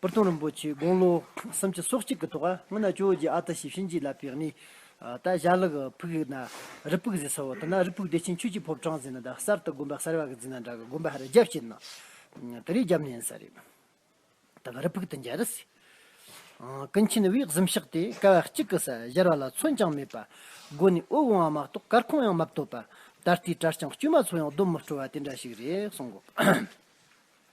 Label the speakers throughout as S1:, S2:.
S1: པུར་སྟོང་རིན་པོ་ཆེའི་དགུང་ལོ་སུམ་ཅུ་སོ་གཅིག་གི་ཐོག་སྔོན་ན་ཇོ་བོ་རྗེ་ཨ་ཏི་ཤའི་གཤིན་རྗེའི་བླ་པའི་གནས། ད་ཞྭ་ལག་ཕུག་ན་རི་ཕུག་ཟེར་ས་བོ་ད་ན་རི་ཕུག་བདེ་ཆེན་ཆོས་རྗེ་ཕོབ་ཁྲང་ཟེར་ན་ད་གསར་དུ་དགོན་པ་གསར་བ་གི་འཛིན་ན་འདྲ་གི་དགོན་པ་ཧ་ར་རྒྱབ་བྱེད་ན་དེ་རིང་རྒྱབ་ནས་ཡིན་ས་རེད། ད་ག་རི་ཕུག་དུ་འཇལ་རི་སི། ཀུན་མཁྱེན་དབྱིག་གཟུམ་ཤག་དེ་སྐལ་བ་གཅིག་གི་ས་གཞར་བ་ལ་མཚོན་ཀྱང་མེད་པ། དགོན་ནས་དབུལ་འོང་བ་མ་གཏོགས་སྐར་ཁུང་ཡང་མ་བཏོད་པ། ད་ལྟའི་གྲྭ་རྐྱང་དཀྱུས་མ་ཚོ་ཡང་སྡོམ་མི་སྤྲོ་བ་དེ་འདྲ་ཞིག་རེད་གསུང་གོ།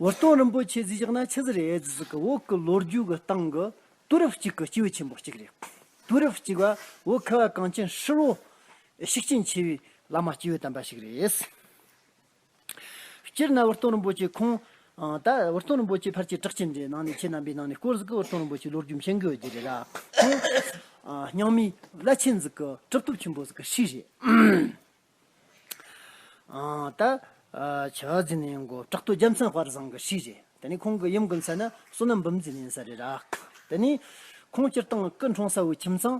S1: བོ་སྟོན་རིན་པོ་ཆེ་གཟིགས་ཞག་ན་ཆི་ཟི་རེ་ཨེད་ཟི་གི་འོག་གི་ལོ་རྒྱུས་ཀྱི་སྟེང་གི་དུས་རབས་གཅིག་གི་སྤྱི་བོ་ཆེན་པོ་གཅིག་རེད། དུས་རབས་གཅིག་པ་བོ་ཁ་བ་གངས་ཅན་ཧྲིལ་བོ་ཤུགས་རྐྱེན་ཆེ་བའི་བླ་མ་སྐྱེས་བུ་དམ་པ་ཞིག་རེད། སྤྱིར་ན་བོ་སྟོན་རིན་པོ་ཆེ་ཁོང་ད་བོ་སྟོན་རིན་པོ་ཆེ་ཕར་ཆེ་བྲག་ཆེན་འདིའི་ནང་ནས་ཆེ་རྣམ་པའི་ནང་ནས་སྐོར་ཟིག་གི་བོ་སྟོན་རིན་པོ་ཆེའི་ལོ་རྒྱུས་མཁྱེན་དགོས་རྒྱུ་རེད་ལ། ཁོང་རྙིང་མའི་བླ་ཆེན་ཟིག་གི་གྲུབ་ཐོབ་ཆེན་པོ་ཟིག་གི་ཧྲིག་རེད། ད་བྱ་རྫི་ནི་མགོ་བྲག་ཏུ་རྒྱལ་མཚན་བར་བཟང་གི་ཤྲཱི་རེད། དེ་ནི་ཁོང་གི་ཡུམ་གྱི་མཚན་ནི་བསོད་ནམས་འབུམ་འཛིན་ཡིན་ས་རེད། དེ་ནས་ཁོང་སྤྱིར་བཏང་སྐུ་འཁྲུངས་ས་བའི་ཁྱིམ་ཚང།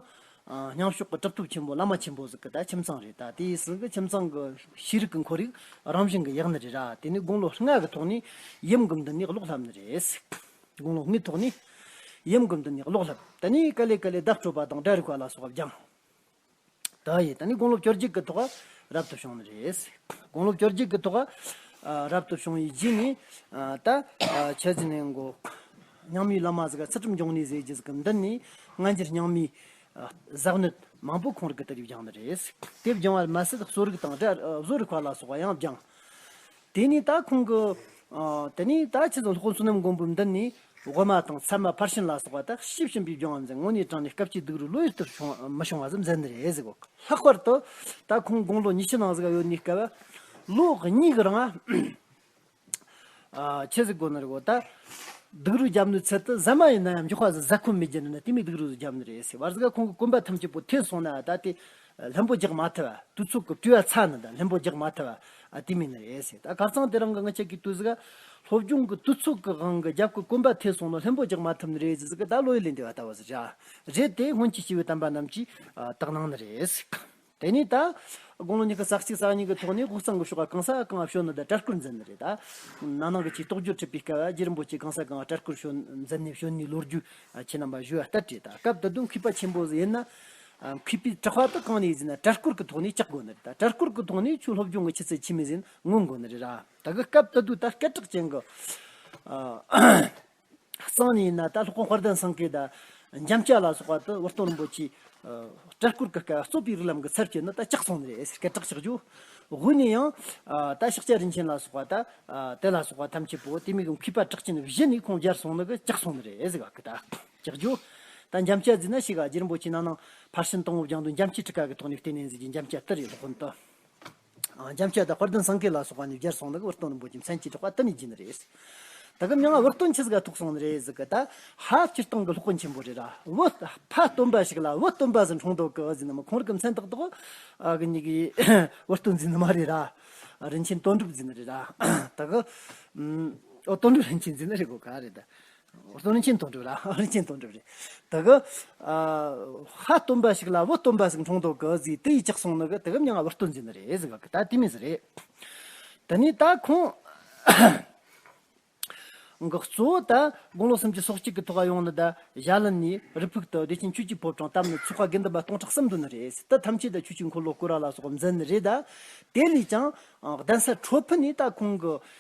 S1: ཉང་ཤོག་གི་གྲུབ་ཐོབ་ཆེན་པོ་བླ་མ་ཆེན་པོ་ཟིག་གི་ཁྱིམ་ཚང་རེད། དེའི་ཟིག་གི་ཁྱིམ་ཚང་གི་ཤེས་རིག་གི་འཁོར་ཡུག་རང་བཞིན་གྱི་ཡག་ནི་རེད། དེ་ནས་དགུང་ལོ་ལྔ་གི་ཐོག་ནས་ཡུམ་གྱི་མདུན་ནས་གློག་ལྷབ་ནི་རེད། དགུང་ལོ་ལྔའི་ཐོག་ནས་ཡུམ་གྱི་མདུན་ནས་གློག་ལྷབ། དེ་ནས་ཀ་ལེ་ཀ་ལེ་བརྡབ་སྤྲོད་པ་དང་སྒྲ་རིག་པ་ལ་སོགས་སྦྱངས། དག་ཡིན། ད་ནི་དགུང་ལོ་བཅོ་གཅིག་གི་ཐོག་རབ་ཏུ་བྱུང་ནི་རེད། དགུང་ལོ་བཅོ་གཅིག་གི་ཐོག་རབ་ཏུ་བྱུང་ཡི་རྗེས་ནི། ད་ཆ་ཟི་ནའི་མགོ། ཉང་མིའི་བླ་མ་ཟེ་ག་ཚེ་ཁྲིམས་སྐྱོང་ནི་ཟེ་རྗེས་ཀྱི་མདུན་ནི། སྔ་འགྱུར་ཉང་མིའི། གཟགས་གནོད་མང་པོ་ཁོང་རིགས་ཀྱི་དེབ་བསྒྱངས་ནི་རེད། དེབ་བསྒྱངས་བར་མ་ཟད་བཟོ་རིག་དང་བཟོ་རིག་བར་ལ་སོགས་པ་ཡང་བསྒྱངས། དེ་ནས་ད་ཁོང་གི། དེ་ནས་ད་ཁྱེད་ཚང་ལྷོ་བསོད་ནམས་མགོན་པོའི་མདུན་ནས། ཝེར་མ་དང་ཚད་མ་ཕར་ཕྱིན་ལ་སོགས་པ་དག་ཤི་བྱིན་པའི་རྒྱུ་འམ་ཟན་ངོ་ནས་དྲངས་ནས་སྐབས་ཀྱི་སྡུག་རུས་བློ་ཡུལ་དུ་མི་ཤོང་བ་ཙམ་ཟེར་འདི་རེད་ཟེར་གོ། ལྷག་པར་དུ། ད་ཁོང་དགུང་ལོ་ཉི་ཤུ་ནང་ཟིག་ཡོད་ནས་སྐལ་བ། ལོ་གཉིས་ཀྱི་རིང། ཁྱེད་ཟིག་གོ་ནི་རེད་གོ། ད། སྡུག་རུས་རྒྱབ་ནི་ཚད་དུ་ཟ་མ་ཡིན་ན་ཡང་མགྱོགས་པ་ཟིག་ཟ་ཁོམ་མེད་ཀྱི་ནི་ན་དེ་མིན་སྡུག་རུས་ཟིག་རྒྱབ་ནི་རེད་ཟེར་བར་ཟིག་ཁོང་གི་གོམ་པ་ཐམས་ཅད་པོ་ཐོན་སོང་ན་ད་དེ། ལྷུན་པོ་རྒྱག་མ་ཐུབ་བ་དུས་ཚོད་ཀྱི་དུས་བ་ཚ་ན་དང་ལྷུན་པོ་རྒྱག་མ་ཐུབ་བ་དུས་མིན་རེད་ཟེར་ད་གར་ཚང་དེ་རང་གི་ང་ཅག་གིས་ལྟོས་ཟིག་སློབ་སྦྱོང་གི་དུས་ཚོད་ཀྱི་དབང་གིས་རྒྱབ་ཀྱི་དཀོན་པ་ཐེབས་སོང་ན་ལྷུན་པོ་རྒྱག་མ་ཐུབ་ནི་རེད་ཟེར་ཟིག་ད་བློ་ཡིད་ལས་འདས་བ་ལྟ་བུ་ཟེར་བྱ་རེད་དེ་སྔོན་གྱི་སྤྱི་བོའི་དམ་པ་རྣམས་ཀྱིས་བརྟག་གནང་ནི་རེད་ཟིག་དེ་ནས་ད་དགུང་ལོ་ཉི་ཤུ་རྩ་གཅིག་རྩ་གཉིས་ཀྱི་ཐོག་ནས་དབུས་གཙང་གི་ཤོག་ཁ་གང་ས་གང་བ་ཤོད་ནི་ད་སྤྲ་སྐུར་འཛིན་ནི་རེད་ད་ནང་ནང་གི་ཆེས་རྟོག་འགྱུར་ཁྲིད་པའི་སྐལ་བ་རྗེ་རིན་པོ་ཆེས་གང་ས་གང་བ་སྤྲ་སྐུར་ཤོད་འཛིན་ནི་ཤོད་ནི་ལོ་རྒྱུས་ཁྱེད་རྣམས་པ་བཞུགས་བ་ལྟར་བྲིས་ད་སྐབས་ད་དུང་མཁས་པ་ཆེན་པོ་ཟེར་ཡིན་ན་མཁས་པའི་དྲི་བ་དག་གང་ནས་ཟིན་ན་བྲལ་སྐོར་གྱི་ཐོག་ནས་བཅག་དགོས་ནི་རེད་ད་བྲལ་སྐོར་གྱི་ཐོག་ནས་ཆོས་སློབ་སྦྱོང་གི་ཆུ་ཚད་ཆེ་མི་ཟིན་མངོན་དགོས་ནི་རེད་ར་ད་གི་སྐབས་ད་དུས་ད་སྐད་གྲགས་ཅན་གྱི་གསང་ནས་ཡིན་ན་ད་ལྷོ་ཁ་ཧོར་ཟླ་སངས་རྒྱས་ད་འཇམ་དཔྱད་ལ་སོགས་པ་ད་བོར་སྟོན་རིན་པོ་ཆེའི་བྲལ་སྐོར་གྱི་སྐད་རྩོད་པའི་རིགས་ལམ་གྱི་ཚབ་བྱས་ནི་ད་བཅག་སོང་ནི་རེད་ཟེར་སྐད་གྲགས་ཆགས་རྒྱུ་དབུས་ནས་ཡང་ད་ཤག་ཅལ་རིན་ཆེན་ལ་སོགས་པ་ད་དེ་ལ་སོགས་པ་ཐམས་ཅད་པོ་དེ་མིག་མཁས་པ་གྲགས་ཅན་བཞི་ནས་ཁོང་རྒྱར་སོང་ནི་གི་བཅག་སོང་ནི་རེད་ཟེར་ག་གི་ད། ལྕགས་ཀྱུ། དང་འཇམ་དཔྱད་རྫི་ན་ཤི་ག་རྗེ་རིན་པོ་ཆེ་ནང་ནང་ཕར་ཕྱིན་སྟོང་སྐུ་བརྒྱང་དུ་འཇམ་དཔྱད་ཁྲི་ཀ་གི་ཐོག་ནས་བསྟན་ནས་མཛད་ཀྱི་འཇམ་དཔྱད་ཏི་རི་སློབ་དཔོན་ཏི་འཇམ་དཔྱད་དང་དཔལ་ལྡན་སངས་རྒྱས་ལ་སོགས་པ་ནས་སྦྱར་སོང་ནི་འོད་སྟོང་རིན་པོ་ཆེ་མཚན་གྱི་གྲགས་པ་ཏི་ནི་རྗེ་ནི་རེད། ད་གི་མྱ་ངན་འོད་སྟོང་ཆེ་ཟིག་ག་ཐུག་སོང་ནི་རེད་ཟིག་གི་ད་ཧ་སྤྱིར་བཏང་གི་སློབ་དཔོན་ཆེན་པོ་རེད་ར་འོད་ཕ་སྟོན་པ་ཞིག་ལ་འོད་སྟོན་པ་ཟེར་འཁྲུངས་དོག་གི་འོད་ཟེར་ནི་མ་ཁོང་རི་གི་མཚན་ཏག་ཏོག་གི་ཉི་གི་འོད་སྟོན་རྫི་ནི་མ་རེད་ར་རིན་ཆེན་དོན་གྲུབ་རྫི་ནི་རེད་ར་ད་གི་འོད་སྟོན་གྲུབ་རིན་ཆེན་རྫི་ནི་རེད་གོ་ག་རེད། སྟོན་ཆེན་དོན་གྲུབ་ལ་ཨོན་ཆེན་དོན་གྲུབ་རེད། དེ་གི་ཧ་སྟོན་པ་ཞིག་ལ་བུ་སྟོན་པ་ཟིག་འཁྲུངས་འདུག་གི་ཟིག་དེ་ཡི་ཅག་སོང་ནི་གི་དེ་གི་མྱ་ང་བུ་སྟོན་ཟིག་ནི་རེད་ཟིག་གི་ད་དེ་མི་ཟིག་རེད། དེ་ནས་ད་ཁོང་གི་གཙོ་བོ་ད་དགུང་ལོ་སུམ་ཅུ་སོག་གཅིག་གི་ཐོག་ཡོང་ནི་ད་ཞྭ་ལི་ནས་རི་ཕུག་ཏུ་བདེ་ཆེན་ཆོས་ཀྱི་ཕོབ་གྲངས་བཏབ་ནི་ཆོ་ག་དགེ་འདུན་པ་སྟོང་ཕྲག་གསུམ་འདུ་ནི་རེད་ཟིག་དེ་ཐམས་ཅད་ད་ཆོས་ཀྱི་འཁོར་ལོ་བསྐོར་བ་ལ་སོགས་འཛིན་ནི་རེད་ད། དེ་ལས་ཀྱང་གདན་ས་ཁྲོ་ཕུ་ནས་ད་ཁོང་གི་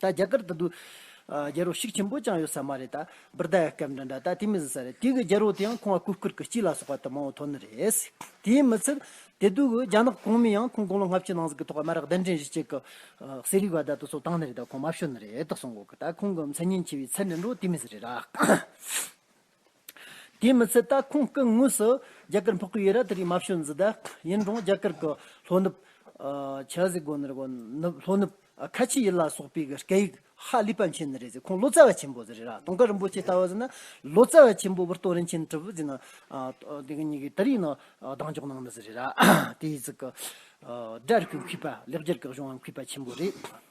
S1: ད་རྒྱ་གར་དུ་རྒྱལ་རོགས་ཤིག་ཆེན་པོ་ཅང་ཡོད་ས་མ་རེད་ད། བིར་དཱ་ཡ་སྐད་འདྲ་འདྲ་ད་དེ་མི་ཟིན་ས་རེད་དེ་གི་རྒྱལ་རོགས་དེ་ཡང་ཁོང་བ་སྐུ་བསྐུར་གི་སྐྱིད་ལ་སོགས་པ་དུ་མང་བོ་ཐོག་ནི་རེད། དེའི་མི་ཚད་དེ་དུས་གི་རྒྱ་ནག་གོང་མི་ཡང་ཁོང་དགུང་ལོ་ལྔ་བཅུ་ནང་ཟིག་གི་ཐོག་དམར་རག་གདན་འདྲེན་གཞི་གཅིག་གི་ཟས་རིགས་བ་དཱ་དུ་སོགས་བཏང་ནི་རེད་ད་ཁོང་མ་བཤོལ་ནི་རེད་ད་སོང་གོ་གི་ད་ཁོང་གི་མཚན་སྙན་ཆེ་བའི་ཚད་ནི་འགྲོ་དེ་མི་ཟིན་རེད་ད། དེའི་མི་ཚད་ད་ཁོང་སྐུ་དངོས་སུ་རྒྱ་གར་འཕགས་པའི་ཡུལ་ར་དེ་རིགས་མ་བྱོན་ཟིན་ད། ཡིན་རུང་རྒྱ་གར་གི་ལྷོ་ནུབ། ཆཱ་ཟི་གོ་ནི་རེད་གོ། ལྷོ་ནུབ། ཁ་ཆེ་ཡུལ་ལ་སོགས་པའི་གི་སྐད་ཡིག་ཧ་ལས་པ་མཁྱེན་ནི་རེད་ཟེར་ཁོང་ལོ་ཙཱ་བ་ཆེན་པོ་ཟེར་རེད་ར་དུང་དཀར་རིན་པོ་ཆེ་ལྟ་བ་ཟེར་ན་ལོ་ཙཱ་བ་ཆེན་པོ་བུར་སྟོད་རིན་ཆེན་གྲུབ་བུ་ཟེར་ན་དེ་གཉིས་ཀྱི་དེ་རིགས་ནི་གདེང་འཇོག་གནང་མི་སྲིད་རེད་ར། དེའི་ཚིག་གི་སྒྲ་རིག་པའི་མཁས་པ་ལེགས་སྦྱར་གྱི་གཞུང་བ་མཁས་པ་ཆེན་པོ་རེད།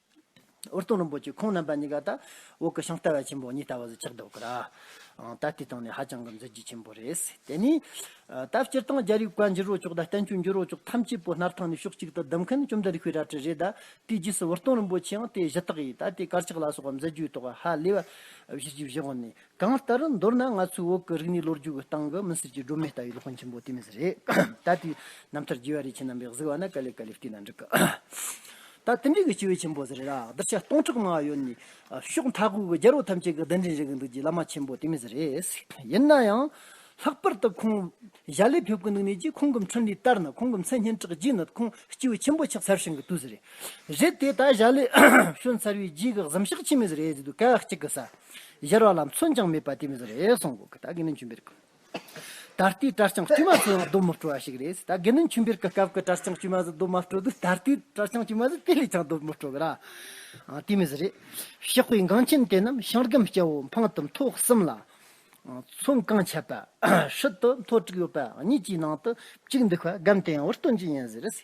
S1: འོར་སྟོང་རིན་པོ་ཆེ་ཁོང་རྣམ་པ་གཉིས་ཀ་ད་འོག་གི་ཤིང་རྟ་བ་ཆེན་པོ་གཉིས་ལྟ་བ་བཟོ་ཆགས་འདུག་གུ་ར། ད་ལྟའི་སྟེང་ནས་ཧ་ཅང་གི་མཛོད་རྒྱུ་ཆེན་པོ་རེད། དེ་ནས། ད་སྤྱིར་བཏང་རྒྱ་རིགས་བཀའ་འགྱུར་རོ་ཅོག་དང་བསྟན་བཅོས་འགྱུར་རོ་ཅོག་ཐམས་ཅད་པོ་སྣར་ཐང་ནས་ཕྱོགས་གཅིག་ཏུ་བསྡུ་མཁན་བཅོམ་ལྡན་རིག་པའི་རལ་གྲི་རེད། ད་དེའི་རྗེས་སུ་འོར་སྟོང་རིན་པོ་ཆེའང་དེ་གཞི་བཏགས་ཡིན། ད་དེའི་དཀར་ཆག་ལ་སོགས་པ་མཛད་རྒྱུའི་ཐོག་ཧ་ལས་པ། བཞི་བཞི་བཞི་བཞི་ནས་གང་ལྟར་མདོར་ན་ང་ཚོའི་འོག་གི་རིག་གནས་ལོ་རྒྱུས་ཀྱི་སྟེང་གི་མི་སེར་གྱི་སྒྲོན་མེ་ལྟ་བུའི་སློབ་དཔོན་ཆེན་པོ་དེ་མི་སེར་རེད། ད་དེའི་རྣམ་ཐར་རྒྱས་པ་རེ་ཁྱེད་རྣམ་པས་གཟིགས་པ་ན་དཀའ་ལས་དཀའ་ལས་སྐྱེས་ན་འགྲིག་གི། ད་དེ་འདྲའི་གི་སྤྱི་བོའི་ཆེན་པོ་ཟེར་ར་གདུལ་བྱ་སྟོང་ཕྲག་མང་ཡོད་ནས་ཕྱོགས་མཐའ་ཁུལ་གྱི་རྒྱལ་པོ་ཐམས་ཅད་ཀྱི་གདན་འདྲེན་བྱེད་གི་འདུག་ཀྱི་བླ་མ་ཆེན་པོ་དེ་མི་སེར་རེད། ཡིན་ན་ཡང། ལྷག་པར་དུ་ཁོང། གཞའ་ལས་ཕེབས་ཀུན་ནང་ནས་ཀྱིས་ཁོང་གི་མཆོད་འབྲིང་ལྟར་ན་ཁོང་གི་མཚན་སྙན་གྲགས་རྒྱས་ནད་ཁུང་སྐྱེ་བོ་ཆེན་པོ་ཕྱག་འཚལ་ཞིང་གི་དུས་རེད། རེད་དེ་ད་གཞའ་ལས་བྱོན་ཚར་བའི་རྗེས་ཀྱི་གཟིམ་ཤག་ཆེན་མོ་ཟེར་ཡས་ཟེར་དུས་སྐལ་བ་གཅིག་གི་ས་གཞར་བ་ལ་མཚོན་ཀྱང་མེད་པ་དེ་མི་ཟེར་རེད་གསུངས་གོ་གི་ད་དགེ་འདུན་ཆོས་འཕེལ་གྱི་ད་ལྟའི་གྲྭ་རྐྱང་དཀྱུས་མ་ཚོའི་ནང་སྡོད་མི་སྤྲོ་བ་ཞིག་རེད་ད་དགེ་འདུན་ཆོས་འཕེལ་གྱི་སྐབས་ཀྱི་གྲྭ་རྐྱང་དཀྱུས་མ་ཚོ་སྡོད་མ་སྤྲོ་དུས་ད་ལྟའི་གྲྭ་རྐྱང་དཀྱུས་མ་ཚོ་དེ་ལས་ཀྱང་སྡོད་མི་སྤྲོ་གི་ར་དེ་མི་ཟེར་རེད། གཤེགས་པའི་འགངས་ཆེན་དེ་རྣམས་ཞང་སྒམ་སྐྱ་བོ་འཕང་གཏུམ་ཐོག་གསུམ་ལ་ཚོང་རྐང་ཆད་པ་ཧྲིལ་དུ་མཐོ་དྲུག་ཡོད་པ་གཉིས་ཀྱི་ནང་དུ་གཅིག་འདུག་པར་སྒམ་དེ་ཡང་ཝུར་སྟོན་གྱི་ཡིན་ཟེར་རེད།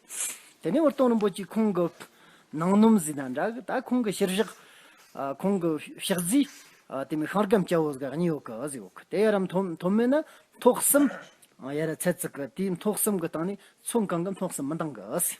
S1: དེ་ནས་ཝུར་སྟོན་རིན་པོ་ཆེས་ཁོང་གི་ནང་སྣུམ་བཟོས་དང་འདྲ་གི་ད་ཁོང་གི་ཕྱིར་བཞག་ཁོང་གི་ཕྱག་རྫི་དེ་མི་ཤོང་སྒམ་སྐྱ་བོ་ཟེར་ག་གཉིས་ཡོད་གི་ཟེར་ཡོད་གི་དེ་ཡར་རམ་མཐོ་མིན་ན་མཐོ་གསུམ་ཡར་ར་ཚད་བརྩི་གི་དེའི་མཐོ་གསུམ་གི་སྟེང་ནས་ཚོང་རྐང་གི་མཐོ་གསུམ་མི་འདང་གི་ཟེར།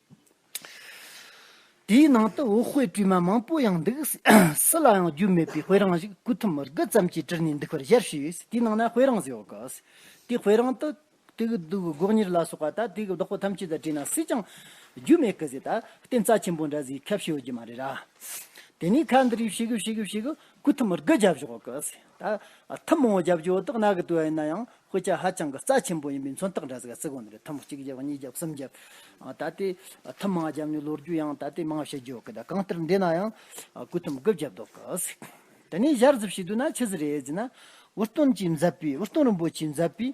S1: དེའི་ནང་དུ་འོ་དཔེ་དྲི་མ་མང་པོ་ཡང་འདུག་སུ་ལའང་རྒྱུས་མེད་པའི་དཔེ་རང་ཞིག་སྐུ་ཐུམ་དགུ་ཙམ་གྱིས་བྲིས་ནས་འདུག་པར་ཞལ་བཞེས་དེའི་ནང་ན་དཔེ་རང་ཟེར་བ་དགའ་ཟེར་དེ་དཔེ་རང་དུ་དེ་གི་བདུག་སྒོག་ཉེར་ལ་སོགས་པ་དང་དེ་གི་བདག་པོ་ཐམས་ཅད་དང་བྲིས་ན་སུས་ཀྱང་རྒྱུས་མེད་གི་ཟེར་ད་བསྟན་རྩ་ཆེན་པོ་འདྲ་ཟིག་ཁ་བཤད་ཡོད་རྒྱུ་མ་རེད་ར། དེ་ནས་ཁ་འདི་རིགས་བྱེད་དགོས་བྱེད་དགོས་བྱེད་དགོས་སྐུ་ཐུམ་དགུ་བརྒྱབ་ཞོག་གི་ཟེར། ད་ཐུན་མོང་བརྒྱབ་རྒྱུ་འོ་དོགས་རྣག་གི་དུ་བ་ཡིན་ན་ཡང་སྐུལ་ལྕག་ཧ་ཅང་གི་རྩ་ཆེན་པོ་ཡིན་པའི་མཚོན་རྟགས་འདྲ་ཟེར་ག་ཚིག་གོ་འདི་རེད་ཐུན་མོང་གཅིག་བརྒྱབ་གཉིས་བརྒྱབ་གསུམ་བརྒྱབ། ད་ལྟའི་ཐུན་མང་བརྒྱབ་ནས་ལོ་རྒྱུས་ཡང་ད་ལྟའི་མང་བཤད་རྒྱུ་ཡོད་གི་ད་གང་ལྟར་འདི་ན་ཡང་སྐུལ་ཐུམ་དགུ་བརྒྱབ་འདུག་གི། དེ་ནས་གཞར་བཟོ་བྱས་དུས་ན་ཆི་ཟི་རེད་ཟེར་ན་འུར་སྟོན་གྱིས་མཛད་པའི་འུར་སྟོན་རིན་པོ་ཆེས་མཛད་པའི།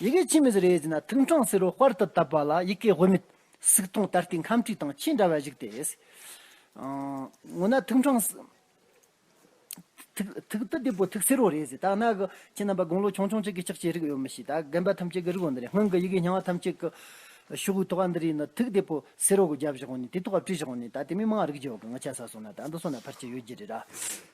S1: ཡི་གེ་ཕྱི་མི་ཟེར་ཡས་ཟིན་ན་ཐུགས་འཕྲང་བསིལ་བ་དཔར་དུ་བཏབ་པ་ལ་ཡི་གེ་དབུ་མེད། སུག་ཐུང་ད་ལྟའི་ཁམས་ཁྲིག་དང་ཆེས་འདྲ་བ་བཞུགས་ཏེ། འོ་ན་ཐུགས་འཕྲང། ཐུགས་དང་བདེ་པོ་ཐུགས་བསིལ་བ་རེད་ཟེར་ད་གནའ་གི་ཁྱེད་རྣམ་པ་དགུང་ལོ་ཆུང་ཆུང་གཅིག་གིས་ཅག་ཅེས་རིགས་ཡོད་མི་ཤེས་ད་རྒན་པ་ཐམས་ཅད་ཀྱིས་རིགས་བ་འདི་རེད་སྔོན་གྱི་ཡི་གེ་རྙིང་བ་ཐམས་ཅད་ཀྱི། ཤོག་བུའི་ཐོག་ཁ་འདི་རེད་ན་ཐུགས་བདེ་པོ་བསིལ་བ་གོ་རྒྱབ་བཞག་གོ་ནས་དེ་ཐོག་ཁ་བྲིས་བཞག་གོ་ནས་ད་དེ་མིན་མང་རིགས་རྒྱལ་བ་གང་གི་ཆ་ས་སོང་ན་ད་འདི་སོང་ན་ཕར་ཆེར་ཡོད་རྒྱུ་རེད་ར།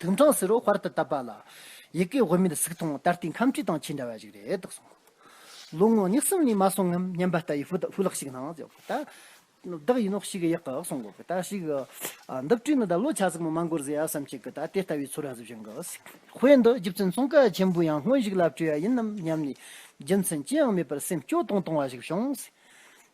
S1: དུག་འཕྲང་བསིལ་རོ་བར་དུ་བཏབ་པ་ལ། ཡི་གེ་དབུ་མེད་གཟུགས་མཐོང་ད་ལྟའི་ཁམས་ཁྲིད་དང་ཆེས་འདྲ་བ་ཞིག་རེད་དོ་གསུངས། ལོ་ངོ་ཉི་གསུམ་ནས་མ་སོང་ངམ་སྙམ་པ་ལྟ་བུའི་ཧྥུ་ལག་ཞིག་སྣང། བདག་ཡིན་ནོ་ཞིག་ཡག་གི་གསུངས། ཞིག། འདི་བཀྲུས་ནས་ད་ལོ་ཆ་ཙིག་མོ་མ་འགོར་ཟེར་ཡ་བསམ་ཞིག་ད་དེ་ལྟ་བུའི་ཚོར་བ་གཟུགས་བཞིན་གྱི། དཔེ་འདི་རྒྱུ་མཚན་ཙོང་ཁ་ཆེན་པོས་ཡང་སྔོན་ཞིག་ལ་བཀྲུས་ཡ་ཡིན་ནམ་སྙམ་ནས་རྒྱུ་མཚན་ཅི་ཡང་མེད་པར་སེམས་སྐྱོ་གཏོང་གཏོང་བ་ཞིག་བྱུང།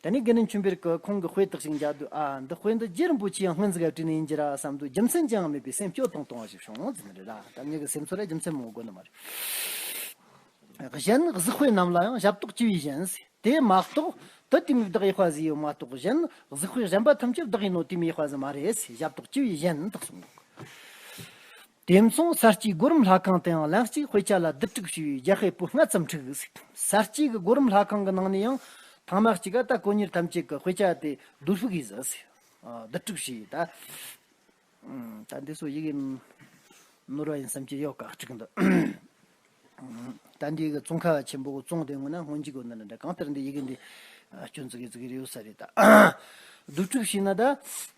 S1: ད་ནི་དགེ་འདུན་ཆུན་པིར་ཀུ་ཁོང་གི་དཔེ་དག་ཅིག་མཇལ་དུས་ཨ་འདི་དཔེ་འདི་རྗེ་རིན་པོ་ཆེའི་སྔོན་ཟླ་བཀྲིས་ནས་ཡིན་གྱི་ར་བསམ་དུས་རྒྱུ་མཚན་ཅང་མེད་པའི་སེམས་སྐྱོ་དང་དོགས་གཞི་བྱུང་ཟེར་ནི་རེད་ད་ད་ངེད་ཀྱི་སེམས་ཚོར་ལ་རྒྱུ་མཚན་མང་བོ་དགོས་ནི་མ་རེད། གཞན་གཟིགས་དཔེ་རྣམས་ལ་ཡང་ཞབས་ཏོག་ཅི་བས་གཞན། དེ་མ་གཏོགས་དུ་དུས་མེད་བདག་ཡེ་ཤུ་ཨ་ཟི་ཡོད་མ་གཏོགས་གཞན་གཟིགས་དཔེ་གཞན་པ་ཐམས་ཅད་བདག་ཡིན་ནོ་དུས་མེད་ཡེ་ཤུ་ཨ་ཟི་མ་རེད་ཞབས་ཏོག་ཅི་བས་གཞན་དག་གསུངས་འདུག། དེ་མཚུངས་གསར་སྐྱེས་སྒོ་རིམ་ལྷ་ཁང་དེའང་ལན་གཅིག་དཔེ་ཆ་ལ་བསྡུ་སྒྲིག་ཞུས་པའི་རྒྱ་སྐད་པོད་ལྔ་ཙམ་འཁྲིད་གཟིགས། གསར་སྐྱེས་ཀྱི་སྒོ་རིམ་ལྷ་ཁང་གི་ནང་ནས་ཡང་ཐང་མ་གཅིག་ཨ་ཏཱ་ཀོ་ཉེར་ཐམས་ཅད་ཀྱི་དཔེ་ཆ་དེ་བསྡུ་ལྷུག་གིས་བསྡུ་སྒྲིག་བྱས་ཡོད། ད་འདི་ཚོ་ཡི་གེ་ནོར་བ་ཡིན་བསམ་གྱི་ཡོད་ག་ཅིག་འདུག། ད་འདི་གི་ཙོང་ཁ་ཆེན་པོ་ཙོང་དེ་སྔོན་ན་སྔོན་གྱི་སྒོ་ནས་ལ་འདྲ་གང་ལྟར་འདི་ཡི་གེ་འདི་སྐྱོན་ཙི་གེ་ཙི་གེ་རེ་ཡོད་ས་རེད། བསྡུ་སྒྲིག་བྱས་ན་ད།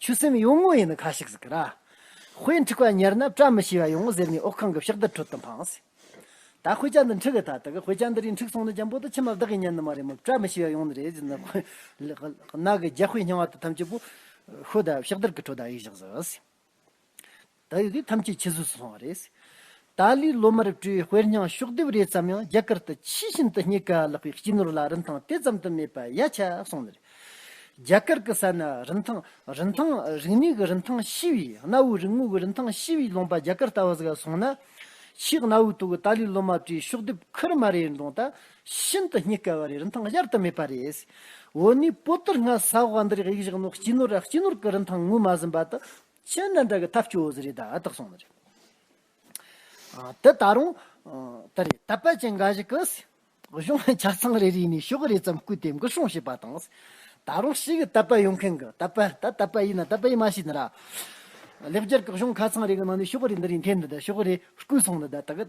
S1: ཆུ་སྲིན་ཡོང་ངོ་ཡིན་ན་ཁ་ཤིག་ཟིག་གི་ར། དཔེ་འཁྲིག་པ་ཉར་ན་བཀྲ་མི་ཤིས་པ་ཡོང་ངོ་ཟེར་ནས་འོག་ཁང་གི་ཕྱག་རྡུལ་ཁྲོད་དུ་འཕངས། ད་དཔེ་ཆ་འདི་འཁྲིག་གི་ཐ་དག་དཔེ་ཆ་འདི་རིགས་འཁྲིག་སོང་ན་འཇམ་པོ་དང་ཕྱི་མ་བདག་གིས་ཉན་ནི་མ་རེད་མོད་བཀྲ་མི་ཤིས་པ་ཡོང་ནི་རེད་ཟེར་ནས་ཁོས་རྣག་གི་རྒྱ་དཔེ་རྙིང་བ་དང་ཐམས་ཅད་པོ་ཤོ་དང་ཕྱག་རྡུལ་གྱི་ཁྲོད་དུ་གཡུགས་བཞག། ད་ཡོད་དེ་ཐམས་ཅད་ཕྱི་བཟོས་སུ་སོང་བ་རེད། ཏཱ་ལའི་བློ་མར་སྤྲུལ་བའི་དཔེར་སྙིང་ཤོག་ལྡེབས་རེ་ཙམ་ཡང་རྒྱ་གར་དུ་ཕྱིས་ཤིན་ཏུ་རྙེད་དཀའ་ལགས་པའི་སྤྱི་ནོར་ལ་རིན་ཐང་དེ་ཙམ་དུ་མེད་པ་ཡ་ཆ་སོང་ནི་རེད། རྒྱ་གར་གི་ས་ན་རིན་ཐང། རིན་ཐང། རིག་གནས་ཀྱི་རིན་ཐང་ཤི་བའི་གནའ་བོའི་རིག་དངོས་ཀྱི་རིན་ཐང་ཤི་བའི་ལུང་པ་རྒྱ་གར་ལྟ་བུ་ཟིག་སོང་ན། ཕྱིས་གནའ་བོའི་ཐོག་གི་ཏཱ་ལའི་བློ་མར་སྤྲུལ་ཤོག་ལྡེབས་ཁུར་མ་རེ་འདོང་ད་ཤིན་ཏུ་རྙེད་དཀའ་བ་རེད་རིན་ཐང་གཞར་དུ་མེད་པ་རེད། འོ་ནི་པོ་ཏི་སྔ་ས་བ་འདིར་ཡིག་བཞག་ནོ་སྤྱི་ནོར་ཨ་སྤྱི་ནོར་གྱི་རིན་ཐང་ངོས་མ་ཟིན་པ་དུ་ཕྱི་ནང་དགྲ་གི་ཐབས་སྐྱོ་བོ་རེད་ད་ཨ་ཐག་སོང་ནི་རེད། དེ་ད་རུང་ད་རེད་ད་པད་ཅན་འགའ་ཞིག་གིས་གཞུང་གི་ཆ་ཚང་རེ་རེ་ནས་ཤོག་རེ་ཙམ་བརྐུས་ཏེ་འགུལ་སྲུང་བྱས་པ་དང། ད་རུང་ཕྱི་གི་ད་པད་ཡོང་མཁན་གི་ད་པད་ད་ད་པད་ཡིན་ན་ད་པད་ཡིན་མ་ཤེས་ནི་ར། ལེགས་སྦྱར་གི་གཞུང་ཁ་ཚང་རེ་གི་ནང་ནས་ཤོག་རེ་འདི་རེ་འཐེན་ནི་ད་ཤོག་རེ་བརྐུས་སོང་ནི་ད་ད་གི།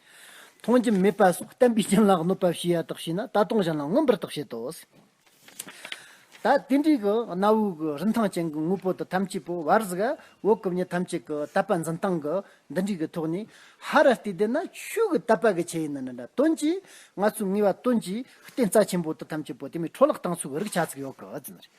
S1: མཐོང་རྒྱུ་མེད་པ་སོགས་བསྟན་པའི་རྐྱེན་ལ་གནོད་པ་བྱེད་ཡ་དག་བྱས་ན་ད་སྟོང་གཞན་ལ་མངོན་པར་རྟོགས་བྱེད་དོ། ད་དེ་འདྲའི་གི་གནའ་བོའི་གི་རིན་ཐང་ཅན་གི་དངོས་པོ་དག་ཐམས་ཅད་པོ་བར་གཟི་འོད་གི་བརྙན་ཐམས་ཅད་གི་དད་པ་འཛིན་སྟངས་གི་འདི་འདྲའི་གི་ཐོག་ནས་ཧ་ར་སྟེ་བསྡད་ན་ཆོས་གི་དད་པ་གི་ཆེད་ཡིན་ན་འདྲ་དོན་གྱིས་ང་ཚོའི་ངེས་བ་དོན་གྱིས་བསྟན་རྩ་ཆེན་པོ་དག་ཐམས་ཅད་པོ་དེ་མའི་འཕྲོ་བརླག་སྟངས་ཚུལ་གྱི་རིག་ཆ་ཚུགས་ཡོད་གི་ཟིན་རེད།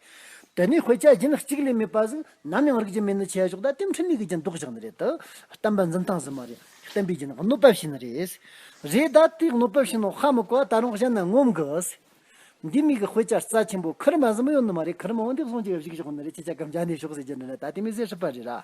S1: དེ་ནས་ཧོས་ཅཱ་ཇིན་གཅིག་ལས་མེད་པ་བཞིན་ནམ་ཡང་རིག་རྒྱུ་མེད་ནི་ཆད་ཞོག་ད་ལྟའི་འཕྲིན་ལས་ཀྱི་རྒྱུན་ལྡོག་བཞག་ནི་རེད་དོ། བསྟན་པ་འཛིན་སྟངས་ཟེར་མ་རེད། བསྟན་པའི་རྒྱུན་གནོད་པ་བྱེད་ནི་རེད། རེད་ད་དེ་གནོད་པ་བྱེད་ནོ་ཧ་མི་གོ་བ་ད་རུང་གཞན་ནས་ངོམ་དགོས། འདི་མི་གི་ཧོས་ཅཱ་རྩ་ཆེན་པོ་ཁིར་མ་ཟིན་མོ་ཡོད་ནི་མ་རེད་ཁིར་མོ་འོན་ཏེ་བཟུང་བྱས་པ་ཞིག་ཞོག་ནི་རེད་ཁྱེད་ཅག་གམ་ཇཱ་ནས་ཞོག་ཟེར་རྒྱུ་ནི་རེད་ད་དེ་མི་ཟེར་སྲིད་པ་རེད་ར།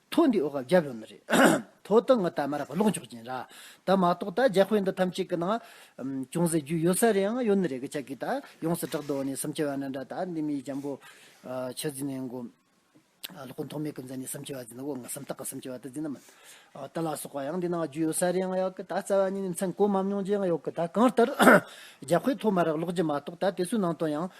S1: ཐོ་འདི་ཨོ་ག་བརྒྱབ་ཡོང་ནི་རེད། ཐོ་ཏི་ངི་ད་མ་ར་པ་ལོག་འཇོག་ཀྱིན་ར། ད་མ་གཏོགས་ད་རྒྱ་དཔེ་འདི་ཐམས་ཅད་ཀི་ནང་ཅུང་ཟད་རྒྱུས་ཡོད་ས་རེའང་ཡོད་ནི་རེད་གི་ཅག་གིས་ད་ཡོངས་སུ་དྲག་ཏུ་འོ་ནི་སུམ་ཅུ་བ་ན་འདྲ་ད་འདི་མི་ཡི་འཇམ་པོ། ཆུ་རྫི་ནས་མགོ། ལོག་གོ་མཐོང་མེད་གི་འཛིན་ནི་སུམ་ཅུ་བ་འཛིན་ན་འོ་ངི་སུམ་རྟགས་གི་སུམ་ཅུ་བ་ད་འཛིན་ན་མིན། ད་ལ་སོགས་པ་ཡང་འདི་ནང་རྒྱུས་ཡོད་ས་རེའང་ཡོད་གི་ད་རྩ་བ་ནི་ནི་མཚན་གོ་མ་མྱོང་རྗེའང་ཡོད་གི་ད་གང་ལྟར། རྒྱ་དཔེ་ཐོ་མ་ར་ལོག་རྒྱུ་མ་གཏོགས་ད་དེ་ཚོའི་ནང་དོན་ཡང་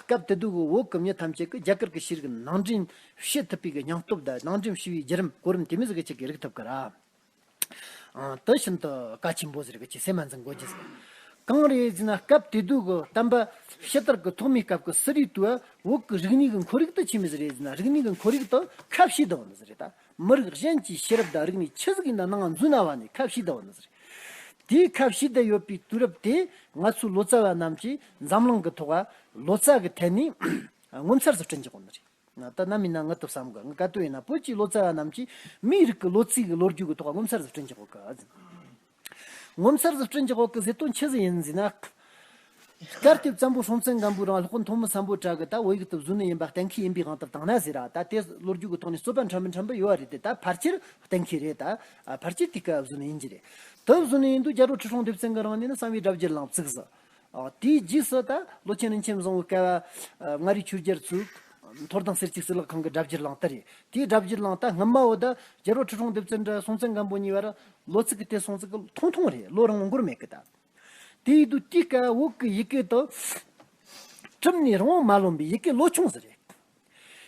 S1: སྐབས་དེ་དུས་ཀྱི་འོག་གི་མི་ཐམས་ཅད་ཀྱིས་རྒྱ་གར་གྱི་ཤེས་རིག་ནང་འདྲེན་བྱེད་ཐུབ་པའི་སྙིང་སྟོབས་དང་ནང་འདྲེན་ཞུ་བའི་བརྒྱུད་རིམ་གོ་རིམ་དེ་མིས་ཅིག་གིས་རིག་ཐུབ་ཀྱི་རེད། དེ་བཞིན་དུ་བཀའ་ཆེན་པོ་ཟེར་གྱི་སེམས་མ་འཛིན་དགོས་ཀྱི་རེད། གང་རེད་ཟེར་ན་སྐབས་དེ་དུས་ཀྱི་གཏམ་པ་ཕྱི་དར་གྱི་ཐོག་མའི་སྐབས་ཀྱི་གསོ་རིག་དུས་འོག་གི་རིག་གནས་ཀྱི་འཁོར་རིགས་དུ་ཆེ་མི་ཟེར་རེད་ཟེར་ན་རིག་གནས་ཀྱི་འཁོར་རིགས་དང་ཁ་བྱེ་དང་མི་ཟེར་རེད་ད། མི་རིགས་གཞན་གྱི་ཤེས་རབ་དང་རིག་གནས་ཆི་ཟིག་ཡིན་ན་ནང་ང་འཛུལ་ན་བ་ནི་ཁ་བཤིག་ད་བ་ནི་ཟེར། དེའི་ཁ་བཤིག་ད་ཡོད་པའི་དུས་རབས་དེ་ང་ཚོའི་ལོ་ཙཱ་བ་རྣམས་ཀྱིས་འཛམ་གླིང་གི་ཐོག་ལོ་ཙཱ་གི་ཐད་ནས་ངོ་མཚར་བཟོ་སྐྲུན་བྱེད་དགོས་ནི་རེད། ད་ནམ་ཡིན་ན་ང་ཏུ་བསམ་དགོས་ང་ག་དུས་ཡིན་ན་བོད་ཀྱི་ལོ་ཙཱ་བ་རྣམས་ཀྱིས་མིའི་རིགས་ཀྱི་ལོ་ཚིགས་ལོ་རྒྱུས་ཀྱི་ཐོག་ངོ་མཚར་བཟོ་སྐྲུན་བྱེད་དགོས་གི། ངོ་མཚར་བཟི་སྐྲུན་གྱི་འོག་གི་བཟི་སྟོན་ཆུ་བཟི་ཡིན་ཟིན། སྐར་ཐེབས་ཙམ་པོ་སྲོང་བཙན་སྒམ་པོའི་རང་ལྷོ་མཐོ་མི་བསམ་པོ་བྲག་གི་ད་བོད་ཡིག་ཏུ་བཟོས་ནི་ཡིན་པ་གཏན་འཁེལ་ཡིན་པའི་དབང་དུ་བཏང་ན་ཟེར་ར་ད་དེ་ལོ་རྒྱུས་ཀྱི་ཐོག་ནས་རྩོད་པ་འཕྲ་མི་འཕྲ་འབུ་ཡོད་བ་རེད་དེ་ད་ཕར་ཆེར་གཏན་འཁེལ་རེད་ད་ཕར་ཆེར་དེ་སྐབས་བཟོས་ནི་ཡིན་གྱི་རེད་དུ་བཟོས་ནི་ཡིན་འདུག་རྒྱ་བྲོ་ཁྲི་སྲོང་ལྡེབ་བཙན་གྱི་རང་ནས་ནི་གསང་བའི་སྒྲ་བརྒྱད་ལང་བརྩིགས་བཟི། དེའི་རྗེས་སུ་ད་ལོ་ཆེན་རིན་ཆེན་བཟང་བོའི་བསྐལ་བ། མངའ་རིས་ཆོས་རྒྱལ་གཙུག། མཐོར་དང་སེར་སྐྱའི་སྲིད་ལག་ཁང་གི་སྒྲ་བསྒྱུར་གླང་དར་རེད། དེའི་སྒྲ་བསྒྱུར་གླང་དར་སྔ་མ་བོ་ད་རྒྱལ་རོགས་ཁྲི་གྲོང་སྡེབ་ཚན་དྲ་སྲོང་བཙན་སྒམ་པོ་གཉིས་བར་ལོ་ཚིགས་ཀྱི་དེ་སྲོང་ཚིགས་ཀྱི་ཐུང་ཐུང་རེད་ལོ་རང་མགོར་མེད་གི་ད། དེ་ཡི་དུས་དེའི་སྐལ་བ་འོག་གི་ཡི་གེ་དང། ཁྲིམས་ནི་རང་དབང་མ་ལོན་པའི་ཡི་གེ་ལོ་ཆུང་ཟེར་རེད།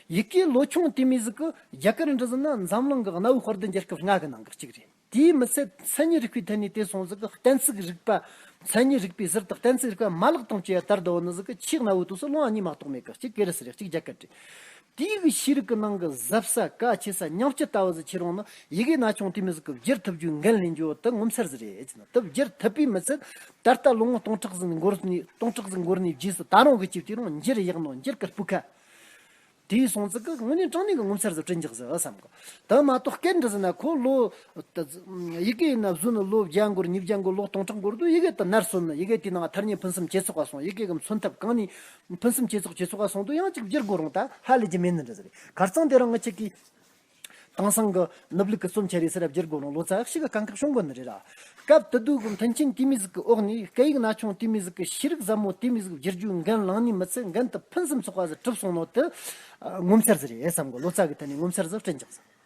S1: ཡི་གེའི་ལོ་ཆུང་དེ་མི་ཟིག་གི་རྒྱ་གར་འབྲི་ཟིན་ན་འཛམ་གླིང་གི་གནའ་བོའི་དཔར་བསྡུ་འགྱེར་སྐབས་སྔ་གི་ནང་གི་གཅིག་རེད། དེའི་མི་ཚད་མཚན་ཉིད་རིག་པའི་ཐད་ནས་དེ་སོང་ཟིག་གི་གཏན་ཚིགས་རིག་པ་མཚན་ཉིད་རིག་པའི་ཟུར་དང་གཏན་ཚིགས་རིག་པ་མ་ལག་སྟོང་སྐྱེ་བ་ལྟར་དུ་འོ་ན་ཟིག་གི་ཆིག་རྣ་བོའི་དུས་སུ་སློང་བ་གཉིས་མ་གཏོགས་མེད་ཀི་གཅིག་ཀེ་རི་སི་རེ་གཅིག་རྒྱ་ཀ་ཏི། དེའི་གི་ཤེས་རིག་གི་ནང་གི་གཟབ་ས་དཀའ་ཆེ་ས་ཉམས་སྐྱི་ལྟ་བུ་ཟིག་ཆེ་རུང་ནི་ཡི་གེ་ན་ཆུང་དེ་མི་ཟིག་གི་བསྒྱུར་ཐུབ་རྒྱུའི་འགན་ལེན་རྒྱུ་དི་ངོ་མཚར་ཟིག་རེད་ཟིན་ན་དི་བསྒྱུར་ཐུབ་པའི་མི་ཚད་ད་ལྟ་ལོ་ངོ་སྟོང་ཕྲག་ཟིག་འགོར་ནས་སྟོང་ཕྲག་ཟིག་འགོར་ནས་རྗེས་སུ་ད་རུང་གི་ཅིག་དེ་རུང་འགྱུར་ཡག་ནོ་འགྱུར་གི་སྤུ་ཁ་དེའི་གསུང་ཚིག་གི་དངོས་གནས་དྲང་གནས་ཀྱི་ངོ་མཚར་བཟོ་སྐྲུན་རྒྱག་ཟེར་བསམ་གོ། དེ་མ་གཏོགས་སྐད་འདི་ཟེར་ན་ཁོ་ལོ། ཡི་གེ་ཡིན་ན་བཟོས་ནས་ལོ་བརྒྱ་འགོར་ཉིས་བརྒྱ་འགོར་ལོ་སྟོང་ཕྲག་འགོར་དུས་ཡི་གེ་དེ་ནར་སོན་ནས་ཡི་གེ་དེའི་ནང་མཐར་ཉིད་ཕུན་སུམ་ཇེ་ཚོགས་པ་སོང་ཡི་གེ་གི་མཚོན་ཐབས་གང་ནས། ཕུན་སུམ་ཇེ་ཚོགས་ཇེ་ཚོགས་པ་སོང་དུས་ཡང་གཅིག་བསྒྱུར་དགོས་རུང་ད་ཧ་ལས་ཀྱི་མེད་ནི་འདྲ་ཟེར། གར་གཙང་དེ་རང་ངོ་ཆེ་གི། དེང་སང་གི་ནུབ་ལུགས་ཀྱི་རྩོམ་འཆལ་རིགས་སེར་རབ་རྒྱལ་དགོན་ལོ་ལོ་ཙཱ་ཞིག་གི་དཀའ་འཁེགས་ཤོང་དགོས་ནི་རེད། སྐབས་དེ་དུས་ཀྱི་མཐུན་རྐྱེན་དུས་མི་ཟིག་གི་འོག་ནས་སྐད་ཡིག་ན་ཆུང་དུས་མི་ཟིག་གི་ཤེས་རིག་ཟབ་མོ་དུས་མི་ཟིག་བསྒྱུར་རྒྱུའི་འགན་བླངས་ནས་མི་ཚེ་འགན་དུ་ཕུན་སུམ་ཚོགས་པ་ཟིག་གྲུབ་སོང་ནོ་དེ་ངོ་མཚར་ཟིག་རེད་བསམ་གོ་ལོ་ཙཱ་གི་ཐད་ནས་ངོ་མཚར་ཟིག་དྲན་ཅིག་བསམ།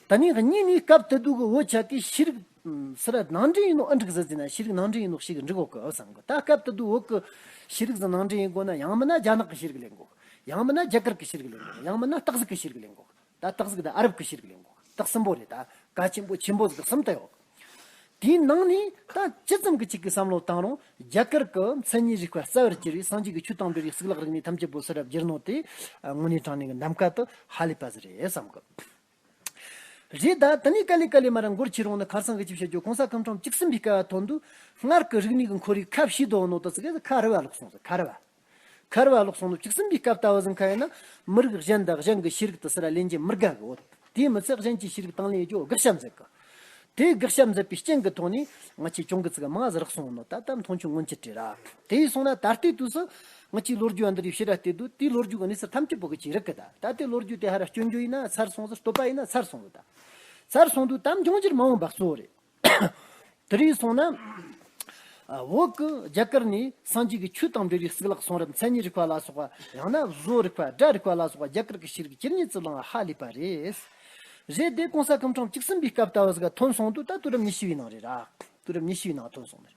S1: དེ་ནས་གཉིས་ནས་སྐབས་དེ་དུས་ཀྱི་འུ་ཅག་གིས་ཤེས་རིག་ཟེར་བ་ནང་འདྲེན་ཡིན་ནོ་ཨ་འགྲིག་ཟིག་ཟེར་ན་ཤེས་རིག་ནང་འདྲེན་ཡིན་ནོ་ཞིག་འགྲིག་འོག་གི་བསམ་གོ་ད་སྐབས་དེ་དུས་འོག་གི་ཤེས་རིག་ཟིག་ནང་འདྲེན་ཡིན་དགོས་ན་ཡང་མིན་ན་རྒྱ་ནག་གི་ཤེས་རིག་ལེན་དགོས་ཡང་མིན་ན་རྒྱ་གར་གྱི་ཤེས་རིག་ལེན་དགོས་ཡང་མིན་ན་སྟག་གཟིག་གི་ཤེས་རིག་ལེན་དགོས། ད་སྟག་གཟིག་དང་ཨ་རབ་ཀྱི་ཤེལ་གྱི་ལེན་གོ། སྟག་གསུམ་པོ་རེད་ད། དགའ་ཆེན་པོ་ཆེན་པོ་གཟིག་གསུམ་ལྟ་ཡོད། དེའི་ནང་ནས་ད་ཇི་ཙམ་གྱི་ཅིག་གི་བསམ་བློ་བཏང་རུང་རྒྱ་གར་གྱི་མཚན་ཉིད་རིག་པ་རྩ་བར་གྱུར་བའི་སངས་རྒྱས་ཀྱི་ཆོས་དང་འབྲེལ་བའི་གཙུག་ལག་རིག་གནས་ཐམས་ཅད་པོ་ཚུར་རབ་སྦྱར་ནོར་དེ་དངོས་གནས་དྲང་གནས་ཀྱི་ནམ་མཁའ་དུ་ཧ་ལས་པ་ཟིག་རེད་བསམ་གི། རེད་ད། ད་ནི་དཀའ་ལས་དཀའ་ལས་མ་ར་མགོར་ཁྱེར་རུང་ནི་གར་སང་གི་ཅིག་བྱ་རྒྱུ་གོང་ས་ཁམས་ཁྲོམ་གཅིག་ཟིན་པའི་སྐལ་བ་ཐོབ་འདུག་སྔར་གྱི་རིག་གནས་ཀྱི་འཁོར་རིགས་ཁ་བྱིས་དོགས་ནོར་དུ་ཟིག་གི་ཁ་རི་བ་ལོག་སོང་ཟིག་ཁ་རི་བ། ཁར་བ་ལོག་སོང་ནུབ་གཅིག་ཟིན་པའི་སྐབས་ལྟ་བུ་ཟིན་ཁ་ཡིན་ན། མི་རིགས་གཞན་དང་གཞན་གྱི་ཤེས་རིག་དུ་སི་ར་ལེན་གྱི་མི་དགའ་གི་འོད། དེའི་མི་ཚད་གཞན་གྱི་ཤེས་རིག་དང་ལེན་རྒྱུ་དགག་བྱ་མཛད་གི། དེའི་དགག་བྱ་མཛད་པའི་རྐྱེན་གྱི་ཐོག་ནས། ང་ཆེ་ཆུང་གི་ཚིག་མངའ་ཟ་རག་སོང་ནོ་ད་ལྟ་མཐོང་ཆུང་སྔོན་ཆད་བྲལ། དེ་ཡིས་སོང་ན་ད་ལྟའི་དུས་སུ། ང་ཆེའི་ལོ་རྒྱུས་འདི་རིགས་ཤི་ར་ལྟའི་དུས་དེའི་ལོ་རྒྱུས་ཀྱི་གནས་ཚུལ་ཐམས་ཅད་བོད་ཀྱི་ཆེས་རིག་གི་ད་ལྟ་ལྟའི་ལོ་རྒྱུས་དེ་ཧ་ར་སྐྱོན་རྒྱུ་ཡིན་ན་ཚར་སོང་ཟེར་བསྟོད་པ་ཡིན་ན་ཚར་སོང་ལོ་ད། ཚར་སོང་དུས་དམ་བྱུང་རྗེར་མ་འོངས་འབག་བཙོག་རེད། དེ་རིང་སོང་ན། འོག་གི་རྒྱ་གར་ནས་སངས་རྒྱས་ཀྱི་ཆོས་དང་འབྲེལ་བའི་སྲིད་ལག་གསུང་རབ་མཚན་ཉིད་རིག་པ་ལ་སོགས་པ་ཡང་ན་བཟོ་རིག་པ་སྒྲ་རིག་པ་ལ་སོགས་པ་རྒྱ་གར་གྱི་ཤེས་རིག་སྤྱིར་གཉིས་བརྩི་བླང་བ་ཧ་ལས་པ་རེད། རེད་དེ་གོང་ས་སྐུ་འཁྲུངས་གཅིག་ཟིན་པའི་སྐབས་ལྟ་བུ་ཟིག་ཐོན་སོང་དུས་ད་དུས་རབས་ཉི་ཤུ་བའི་ནང་རེད་ར། དུས་རབས་ཉི་ཤུ་བའི་ནང་ཐོན་སོང་མེད།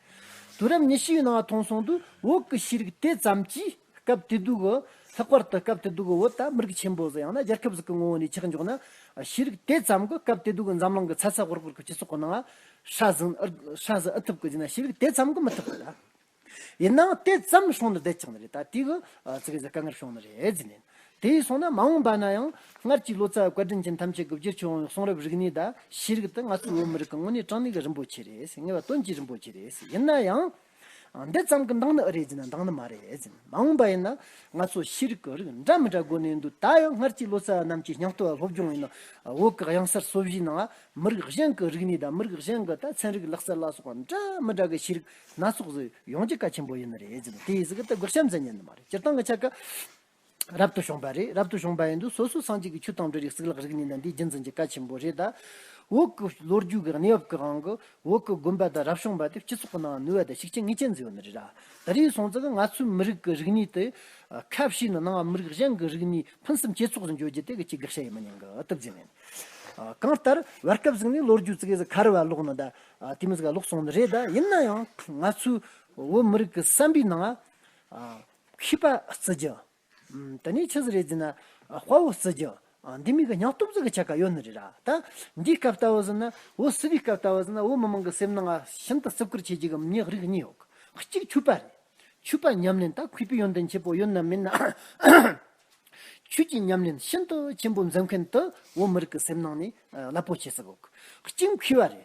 S1: དུས་རབས་ཉི་ཤུ་བའི་ནང་ཐོན་སོང་དུས་འོག་གི་ཤེས་རིག་དེ་ཙམ་གྱིས་སྐབས་བདེ་སྡུག་གི་ལྷག་པར་དུ་སྐབས་བདེ་སྡུག་གི་འོད་དང་མི་རིགས་ཆེན་པོས་ཡང་ན་རྒྱལ་ཁབ་ཟིག་གི་ངོ་བོ་ནས་ཆགས་འཇོག་ན་ཤེས་རིག་དེ་ཙམ་གྱིས་སྐབས་བདེ་སྡུག་གི་འཛམ་གླིང་གི་ཚ་ཚ་ཧོར་ཧོར་གྱི་སྤྱི་ཚོགས་ཁོ་ནའང་ཧྲ་ཟིན་ཨི་ཐུབ་ཀི་ཡིན་ན་ཤེས་རིག་དེ་ཙམ་གྱིས་མི་ཐུབ་ཀི། ཡིན་ནའང་དེ་ཙམ་སོང་ན་བདེ་ཆགས་ནི་རེད་ད་དེ་གི་ཚིག་གི་དཀའ་ངལ་བྱུང་ནི་རེད་ཟེར་ནས། དེ་སོང་ན་མ་འོངས་པ་ན་ཡང་སྔར་གྱི་ལོ་ཙཱ་བའི་བཀའ་དྲིན་ཅན་ཐམས་ཅད་གི་བརྗེད་ཆོག་འོང་གསུང་རབ་རིག་གནས་དང་ཤེས་རིག་དེ་ང་ཚོའི་བོད་མི་རིགས་ཀྱི་དངོས་གནས་དྲང་གནས་ཀྱི་རིན་པོ་ཆེ་རེད་ངེས་པ་དོན་གྱི་རིན་པོ་ཆེ་རེད་ཡིན་ན་ཡང། འདི་ཙམ་གྱི་མདང་ནི་ཨི་རེད་ཟེར་ན་མདང་ནི་མ་རེད། མ་འོངས་པ་ཡིན་ན་ང་ཚོ་ཤེས་རིག་གི་རིགས་འདྲ་མི་འདྲ་དགོས་ནས་འདུག་ད་ཡང་སྔར་གྱི་ལོ་ཙཱ་བ་རྣམས་ཀྱིས་སྙིང་སྟོབས་སློབ་སྦྱོང་ཡིན་ན་འོག་གི་གཡང་གསར་སོ་བཞིའི་ནང་མི་རིགས་གཞན་གྱི་རིག་གནས་དང་མི་རིགས་གཞན་གྱི་ལྟ་ཚན་རིག་ལག་རྩལ་ལ་སོགས་པ་འདྲ་མི་འདྲ་གི་ཤེས་རིག་སྣ་ཚོགས་ཟིག་ཡོང་རྒྱུ་གལ་ཆེན་པོ་ཡིན་ནི་རེད། དེ་ཡི་ཟིག་གི་དེ་དགག་བྱ་མཛད་ཉན་ནི་མ་རེད་སྤྱིར་བཏང་གི་ཆ་ག་རབ་ཏུ་བྱུང་བ་རེད་རབ་ཏུ་བྱུང་བ་ཡིན་འདུག་སོ་སོའི་སངས་རྒྱས་ཀྱི་ཆོས་དང་འབྲེལ་རིགས་གཟུགས་ལག་རིག་གནས་དང་འདི་རྒྱུ་མཚན་གྱི་བཀའ་ཆེན་པོ་རེད་ད། འོག་གི་ལོ་རྒྱུས་ཀྱི་གནས་བབ་ཀྱི་དབང་གིས་འོག་གི་དགོན་པ་དང་རབ་བྱུང་བ་དེ་སྤྱི་ཚོགས་ཀྱི་ནང་ནུས་བ་དང་ཤུགས་རྐྱེན་ངེས་ཅན་འཛིན་ཡོད་ནི་རེད། ད་རེས་སོང་ཙང་ང་ཚོའི་མི་རིགས་ཀྱི་རིག་གནས་དེ་ཁ་བྱེ་ནས་སྣང་བ་མི་རིགས་གཞན་གྱི་རིག་གནས་ཕུན་སུམ་ཇེ་ཚོགས་སུ་འགྱུར་རྒྱུ་དེ་གལ་ཆེའི་དགག་བྱ་ཡིན་མི་ཉན་གི་སྟབས་རྫས་མེད། གང་ལྟར་བར་སྐབས་ཟིག་ནས་ལོ་རྒྱུས་ཙི་གེ་ཟིག་གར་བར་ལོག་ནི་ད། དེ་མི་ཟིག་ལོག་སོང་ནི་རེད་ད་ཡིན་ན་ཡང་ང་ཚོའི་བོད་མི་རིགས་ཀྱི་བསམ་པའི་ནང། ཤི་པ་བརྩི་རྒྱུ། དེ་ནས་ཆོས་རེ་བརྩིས་ན་དཔའ་བོ་བརྩི་རྒྱུ། འདི་མི་གི་ཉག་སྟོབས་རྫོགས་ཀྱི་ཆ་ག་ཡོད་ནི་རེད་ར། ད་འདིའི་སྐབས་ལྟ་བུ་ཟིན་ན་འོ་བསིལ་བའི་སྐབས་ལྟ་བུ་ཟིན་ན་འོ་མི་མང་གི་སེམས་ནང་ང་ཤིན་ཏུ་བརྩི་བཀུར་བྱེད་ཀྱི་གི་མི་ཉག་རིགས་གཉིས་ཡོད། གཅིག་ཆོས་པ་རེད། ཆོས་པ་ཉམས་ལེན་ད་གུས་པའི་ཡོན་ཏན་ཆེན་པོ་ཡོད་ནམ་མེད་ནམ། ཆོས་ཀྱི་ཉམས་ལེན་ཤིན་ཏུ་ཆེན་པོ་འཛིན་མཁན་དུ་འོ་མི་རིགས་ཀྱི་སེམས་ནང་ནས་རླབས་པོ་ཆེ་བརྩི་བཀུར་གཅིག་མཁས་པ་རེད།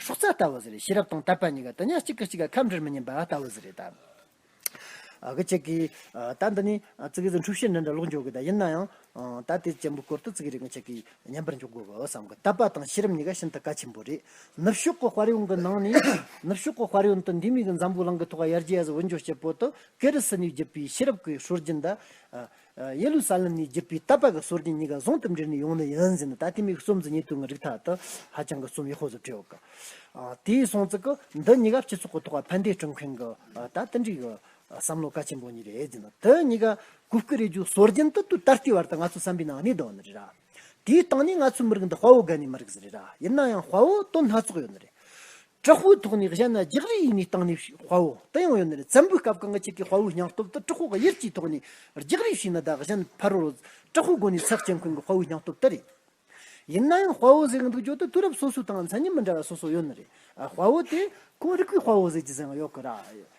S1: སྲོག་རྩ་ལྟ་བུ་ཟེར་ཤེས་རབ་དང་དད་པ་གཉིས་ཀ་དུ་ཉག་གཅིག་གི་གཅིག་ག་ཁམས་འདྲིར་མི་སྙན་པ་ལྟ་བུ་ཟེར་རེད་ད། ཁྱེད་ཀྱིས་ད་འདི་ནས་བརྩི་གི་འདུག་འཁྲུག་ཤེས་འདི་འདྲ་ལོག་འཇོག་གི་ད་ཡིན་ན་ཡང། ད་དེ་ཅན་པོ་བསྐོར་དུ་བརྩི་གི་རེད་ཀྱང་ཁྱེད་ཀྱིས་ཉན་པར་འཇུག་དགོས་པའོ་བསམ་གི་དད་པ་དང་ཤེས་རབ་གཉིས་ཀ་ཤིན་ཏུ་གལ་ཆེན་པོ་རེད། ནུབ་ཕྱོགས་ཀྱི་དཔར་ཡོང་གི་ནང་ནས་ནུབ་ཕྱོགས་ཀྱི་དཔར་ཡོན་དུ་འདི་མིག་འཛམ་བུའི་གླིང་གི་ཐོག་ཡར་རྒྱས་སུ་འུར་འཇོག་བྱེད་པོ་དུ་ཀེ་རི་སི་ནིའི་བརྒྱུད་པའི་ཤེས་རབ་ཀྱི་ཧྲུལ་རྒྱུན་དེ། ཡེ་རུ་སཱ་ལེམ་ནས་བརྒྱུད་པའི་ཏཱ་པཱ་གི་སྲོལ་རྒྱུན་གཉིས་ཀ་ཟུང་དུ་འབྲེལ་ནས་ཡོང་ནི་ཡིན་ཟེར་ནས་ད་ལྟའི་མིག་གསུམ་གྱི་ཉེ་དུ་ངའི་རིགས་ཐག་ཏུ་ཧ་ཅང་གི་གསུམ་ཡག་ཤོས་སུ་བྲིས་ཡོད། དེའི་གསུང་ཚིག་གི་འདི་གཉིས་ཀ་སྤྱི་ཚོགས་ཀྱི་ཐོག་ཕན་བདེ་སྐྲུན་མཁན་གྱི་ད་ལྟ་འགྲིག་གི་བསམ་བློ་གལ་ཆེན་པོ་གཉིས་རེད་ཟེར་ནས་དེ་གཉིས་ཀ་གུ་གུ་རེ་རྒྱུ་སྲོལ་རྒྱུན་དུ་དུས་ད་ལྟའི་བར་དུ་ང་ཚོའི་བསམ་པའི་ནང་གནས་འདུག་ནི་རེད། དེའི་སྟེང་ནས་ང་ཚོའི་མི་རིགས་འདི་དཔའ་བོ་རྒན་ནས་མི་རིགས་ཟེར་རེད་ར་ཡིན་ན་ཡང་དཔའ་བོ་དོན་སྣ་ཚོགས་ཡོད་ནི་རེད། དྲག་པོའི་ཐོག་ནས་བཤད་ན་རྒྱག་རེས་ཡིན་ནས་སྟེང་ནས་དཔའ་བོ་དེ་ཡང་ཡོད་ནི་རེད་བཙན་པོའི་སྐབས་གང་གི་ཆེད་ཀྱི་དཔའ་བོའི་སྙིང་སྟོབས་དེ་དྲག་པོ་གཡེར་གྱིས་ཐོག་ནས་རྒྱག་རེས་བྱས་ན་བདག་གཞན་ཕ་རོལ་བོ་དྲག་པོའི་སྒོ་ནས་ཚེགས་ཆེན་ཁོན་གྱི་དཔའ་བོའི་སྙིང་སྟོབས་དེ་རེད། ཡིན་ན་ཡང་དཔའ་བོ་ཟེར་གྱི་འདུག་བརྗོད་དུ་དུས་རབས་སོ་སོའི་སྟེང་མཚན་ཉིད་མི་འདྲ་བ་སོ་སོ་ཡོད་ནི་རེད་ཁོ་བོ་དེ་ཁོང་རིགས་པའི་དཔའ་བོ་ཟེར་གྱི་ཟེར་ཡང་ཡོད་གི་ར་ཡིན།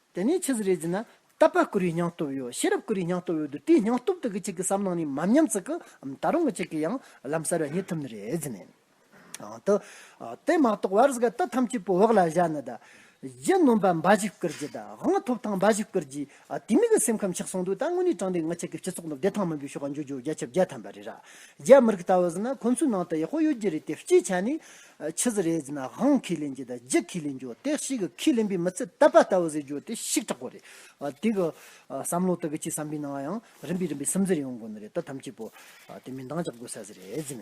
S1: དེ་ནས་ཆི་ཟི་རེ་ཛི་ན་ཏཱ་པཱ་ཀུ་རུའི་སྙིང་སྟོབས་ཡོད་ཤེས་རབ་ཀུ་རུའི་སྙིང་སྟོབས་ཡོད་དུ་དེའི་སྙིང་སྟོབས་དེ་གི་གཅིག་གི་བསམ་ནང་ནས་མམ་མཉམ་ཚིག་གི་འམ་ད་རུང་གི་གཅིག་གི་ཡང་ལམ་གསར་བ་རྙེད་ཐུབ་ནི་རེད་ཟི་ནས། དུ། དེ་མ་གཏོགས་བར་གཟི་ག་ཏི་ཐམས་ཅད་པོ་འོག་ལ་བཞག་ནི་ད། རྗེ་སྣོན་པ་འབའ་ཞིག་བཀུར་རྗེ་ད་དབང་ཐོབ་ཐང་འབའ་ཞིག་བཀུར་རྗེ། དེ་མིག་གི་སེམས་ཁམས་ཆགས་སོང་དུས་ད་དངོས་གནས་དྲང་བདེན་ངི་ཆད་ཀི་སྤྱི་ཚོགས་འདི་བདེ་ཐང་མིན་པའི་ཤོག་ག་འཇུ་རྒྱུ་རྒྱ་ཁྱབ་རྒྱ་ཐམ་པ་རེད་ར། རྒྱ་མི་རིགས་ལྟ་བུ་ཟི་ན་ཁོང་ཚོའི་ནང་དུ་ཡག་པོ་ཡོད་རྒྱུ་རེད་དེ་སྤྱིའི་ཆ་ནས། ཕྱི་ཟེར་རེས་ན་ཧང་ཁི་ལེན་གྱི་དང་རྗི་ཁི་ལེན་གྱོ་དེ་ཤིག་གི་ཁི་ལེན་པའི་མི་ཚེ་ལྟ་པ་ལྟ་བུ་ཟེར་གྱོ་དེ་ཤིག་དྲག་པོ་རེད། དེ་གི་བསམ་བློ་དག་གི་ཆེས་བསམ་པའི་ནང་ཡང་རིམ་པས་རིམ་པས་སིམ་འཛེར་ཡོང་དགོས་ནི་རེད་ད་ཐམས་ཅད་པོ་དེ་མི་འདང་ཅག་དགོས་ས་ཟེར་རེས་ན།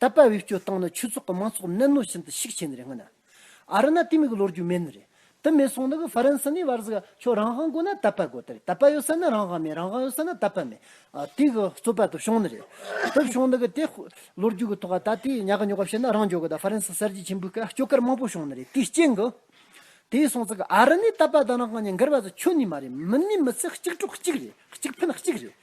S1: ད་དཔལ་བེད་སྤྱོད་བཏང་ན་ཆོས་ཚོགས་ཀྱི་མང་ཚོགས་གནད་ནོ་བཞིན་དུ་ཤིག་ཆེ་ནི་རེ་ང་ན། ཨ་རི་ན་དེ་མི་གི་ལོ་རྒྱུ་མེད་ནི་རེད། དེ་མེད་སོང་ན་གི་ཧྥ་རན་སི་ནི་བར་ཟིག་ཨ་ཁྱོ་རང་ཧང་གོ་ན་ད་དཔལ་གོ་ད་རེད་ད་དཔལ་ཡོད་ས་ནི་རང་ཧང་མེད་རང་ཧང་ཡོད་ས་ན་ད་དཔལ་མེད། དེ་གི་རྩོད་པ་དུ་བྱུང་ནི་རེད། དུ་བྱུང་ན་གི་དེ་ལོ་རྒྱུ་གི་ཐོག་ཨ་ད་དེ་ཉག་གི་ཉོག་ག་བྱེད་ན་རང་འཇོག་གི་ད་ཧྥ་རན་སི་གསར་བརྗེ་ཆེན་པོའི་སྐད་ཨ་ཁྱོ་སྐར་མང་པོ་བྱུང་ནི་རེད་དེའི་རྐྱེན་གི། དེ་སོང་ཚ་གི་ཨ་རི་ནི་ད་དཔལ་ད་རང་ཧང་ནི་འགལ་བ་ཟིག་ཆོད་ནི་མ་རེད་མི་ནི་མི་ཚེ་གཅིག་གྲོགས་གཅིག་རེད་གཅིག་ཕན་གཅིག་རེད།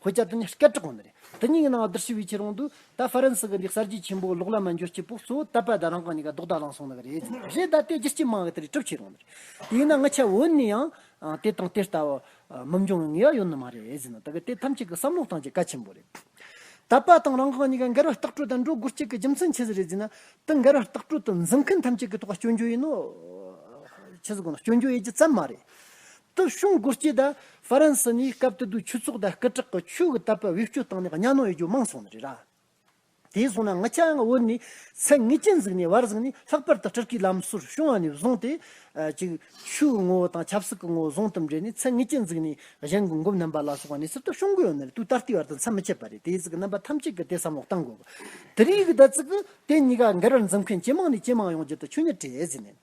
S1: ཁོ་བསྐྱར་དུ་ནི་སྐད་གྲགས་གོང་ནས་རེད། དེ་གཉིས་ཀྱི་ནང་བསྡུར་ཞི་བའི་ཕྱིར་རོང་དུ། ད་ཧྥ་རན་སི་གི་འདི་གསར་བརྗེ་ཆེན་པོའི་ལོག་ལམ་ན་འགྱོད་སྐྱེ་པོ་གཙོ་བོ་ད་པ་ད་རང་གང་ཉིད་ཀ་རྡོག་རྡ་ལང་སོང་ནི་ག་རེད། རེད་ད་དེ་རྒྱལ་སྤྱི་དམངས་ཀྱི་དེ་རིགས་གྲུབ་ཆེད་རོང་ནི་རེད། དེ་ཡིན་ན་ང་ཆད་འོན་ནི་ཡང། དེ་དང་དེ་ལྟ་བུ། མི་འབྱུང་བའི་ངེས་བ་ཡོད་ནི་མ་རེད། ཟེར་ན་དེ་ག་དེ་ཐམས་ཅད་ཀྱི་བསམ་བློ་སྟངས་ཀྱི་བཀའ་ཆེན་པོ་རེད། ད་པ་དང་རང་གང་ཉིད་ཀ་འགལ་བ་ལྟག་སྤྲོད་དང་འགྲོ་སྒོ་གཅིག་གི་རྒྱུ་མཚན་ཇི་ཟེར་རེད་ཟེར་ན། དེ་འགལ་བ་ལྟག་སྤྲོད་དུ་འཛིན་མཁན་ཐམས་ཅད་ཀྱི་ཐོག་ལ་སྐྱོན་བརྗོད་ཡིན་ནོ། ཁྱེད་ཀྱི་གོང་ན་སྐྱོན་བརྗོད་ཡོད་རྒྱུ་ཙམ་མ་རེད། སྟོད་གཞུང་མགུར་སྐྱིད་དང་ཧྥ་རན་སི་གཉིས་སྐབས་དེ་དུས་ཆུ་བཙོག་དང་སྐུ་དྲག་གི་ཆུ་གི་དར་པ་དབུལ་སྐྱོར་བཏང་ནས་གཉའ་གནོན་ཡོད་རྒྱུ་མང་སོང་ནི་རེད་ར། དེའི་སོང་ན་ང་ཆ་ཡང་དབུལ་ནས་ཚད་ངེས་ཅན་གཟིགས་ནས་བར་གཟིགས་ནས་ལྷག་པར་དུ་སྤྲུལ་སྐུའི་ལམ་སྲོལ་བྱུང་བ་ནས་བཟུང་སྟེ། གཅིག། ཆུའི་ངོ་བོ་དང་ཆབ་སྲིད་ཀྱི་ངོ་བོ་ཟུང་དུ་འབྲེལ་ནས་ཚད་ངེས་ཅན་གཟིགས་ནས་གཞན་གྱི་འགོ་མནན་པ་ལ་སོགས་པ་ནས་སི་སྟོད་གཞུང་མགུར་ཡོད་ན་རེད་དུས་ད་ལྟའི་བར་དུ་མཚམས་མི་ཆད་པ་རེད་དེའི་ཚིག་གི་རྣམ་པ་ཐམས་ཅད་ཀྱི་དེ་བསམ་བློ་གཏང་དགོས། དེ་རིང་གི་ད་ཚིག་གི་དེ་གཉིས་ཀ་འགལ་བར་འཛེམ་མཁན་ཇེ་མང་ནས་ཇེ་མང་ཡོང་རྒྱུ་དང་ཆོས་ཉིད་བྲལ་ཟིན་ནས།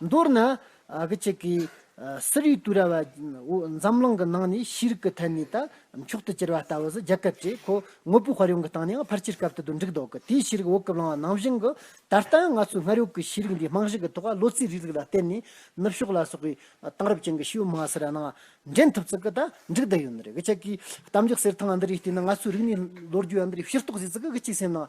S1: མདོར་ན། སི་རི་ཏུ་ར་བ་འཛམ་གླིང་གི་ནང་ནས་ཤེས་རིག་གི་ཐད་ནས་ད་མཆོག་ཏུ་གྱུར་བ་ལྟ་བུ་ཟི་རྒྱལ་ཁབ་ཅེས་ཁོ་དངོས་པོའི་དཔར་ཡོང་གི་སྟེང་ནས་ཡང་ཕར་ཆེར་སྐབས་དེ་དུས་འགྲིག་འདུག་གི་དེའི་ཤེས་རིག་འོག་གི་བླང་བ་ནང་བཞིན་གྱི་ད་ལྟ་ཡང་ང་ཚོའི་སྔར་ཡོད་ཀྱི་ཤེས་རིག་འདིའི་རྨང་གཞི་གི་ཐོག་ལོ་ཙཱའི་རིགས་རིག་ལ་བརྟེན་ནས་ནུབ་ཕྱོགས་ལ་སོགས་པའི་དེང་རབས་ཅན་གྱི་ཤེས་ཡོན་མ་ཟེར་བ་ནང་འདྲེན་ཐུབ་ཚུལ་གྱི་ད་འགྲིག་བསྡད་ཡོད་ནི་རེད། གཏམ་རྒྱུད་གསེར་ཐང་འདི་རིགས་བལྟས་ན་ང་ཚོའི་རིག་གནས་ལོ་རྒྱུས་འདི་རིགས་ཤེས་རྟོགས་བྱེད་ཚུལ་གྱི་གཅིག་སེམས་ནང་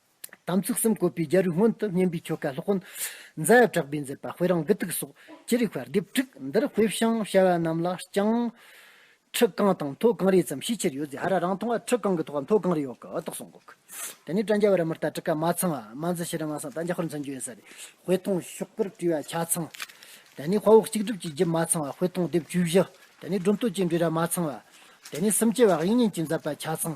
S1: དམ་ཚིག་གསུམ་བཀོད་པའི་རྒྱལ་རིགས་སྔོན་དུ་བསྙེན་པའི་ཆོ་ག་ལྷག་གོ། མཛའ་བ་གྲགས་པས་མཛད་པ་དཔེ་རང་གི་ཐུགས་སྲོག་ཅི་རིགས་བར་སྡེབ་དྲུག་འདིར་དཔེ་བྱང་བྱ་བ་རྣམས་ལ་བྱང། ཁྲི་རྐང་དང་མཐོ་རྐང་རེ་ཙམ་ཤས་ཆེར་ཡོད་ཟེར་ཧ་ར་རང་མཐོང་བ་ཁྲི་རྐང་གི་ཐོག་མཐོ་རྐང་རེ་ཡོད་ཀི་ཨོ་ཏོག་སོང་གོ་ཁི། དེ་ནས་བཀྲ་འཇའ་བ་ར་མི་རྟ་ཀྲི་ཀ་མ་ཚང་བ་མ་འཛི་ཤི་རི་མ་སང་ཏཱ་འཇའ་ཧོར་འཛིན་རྒྱུ་ཡོད་ས་རེ་དཔེ་མཐོང་ཤོག་གིར་བྲིས་བ་ཆ་ཚང། དེ་ནས་དཔའ་བོ་གཅིག་སྒྲིབ་ཀྱི་རྒྱུད་མ་ཚང་བ་དཔེ་མཐོང་ལྡེབ་བཅུ་བཞི། དེ་ནས་སྒྲུབ་མཐོ་སྐྱེ་འགྲོའི་ར་མ་ཚང་བ། དེ་ནས་སུམ་སྐྱེ་བ་དབྱིག་གཉེན་གྱི་མཛད་པ་ཆ་ཚང།